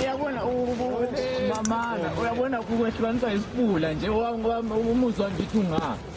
uyabona mamana uyabona kukwehlukanisa isifula nje umuzwa ngithi unga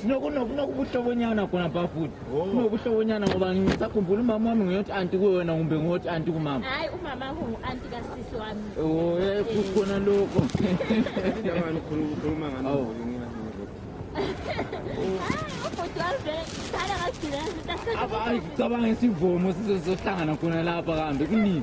sinokunokubuhlobonyana khona pha futhi oh. kunobuhlobonyana ngoba ngisakhumbula umama wami ngiyothi anti kuwena kumbe ngiyothi anti kumama hayi umama ungu-anti kasisi wami oh, eh, kukhona lokho cabanga isivomo sizohlangana khona lapha kambe kunini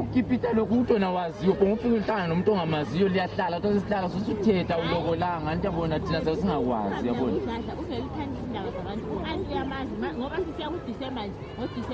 ukipita lokhu umuntu wena waziyo bonke ufike uhlangane nomuntu ongamaziyo liyahlala kuthatha isihlala sothi uthetha ulokolanga anti yabona thina sase singakwazi yabona